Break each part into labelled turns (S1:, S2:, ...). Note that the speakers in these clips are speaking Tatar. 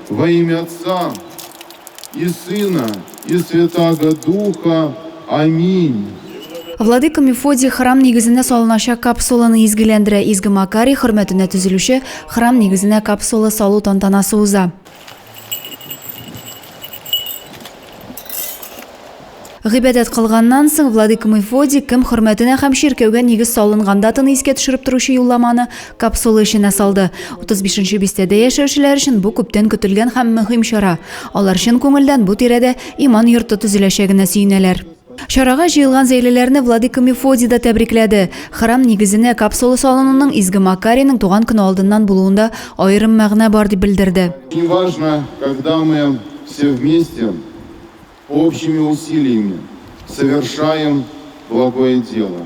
S1: Во имя Отца и Сына и Святаго Духа. Аминь. Владыка Мефодий храм нигезенә салыначак капсуланы изгеләндерә. Изге Макарий хөрмәтенә төзелүче храм нигезенә капсула салу тантанасы уза. Гыйбадәт кылганнан соң Владыка Мефодий кем хөрмәтенә һәм чиркәүгә нигез салынган датаны искә төшереп торучы юлламаны капсула эченә салды. 35 нче бистәдә яшәүчеләр өчен бу күптән көтелгән һәм мөһим чара. Алар чын күңелдән бу тирәдә иман йорты төзеләчәгенә сөенәләр. Чарага җыелган зәйлеләрне Владыка Мефодий да тәбрикләде. Храм нигезенә капсула салынуның Изге Макарийның туган көне алдыннан булуында аерым мәгънә бар, дип белдерде. И важно, когда мы все вместе общими усилиями совершаем благое дело.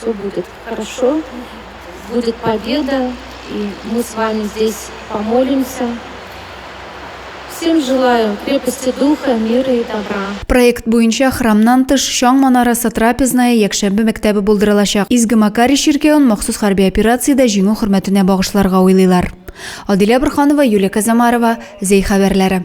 S1: Все будет хорошо, будет победа, и мы с вами здесь помолимся. Всем желаю крепости духа, мира и добра. Проект буенча храмнан тыш Чаң манарасы трапезная якшәмбе мәктәбе булдырылачак. Изге Макари чиркәвен махсус хәрби операциядә җиңү хөрмәтенә багышларга уйлыйлар. Адилә Бурханова, Юлия Казамарова, Зей хәбәрләре.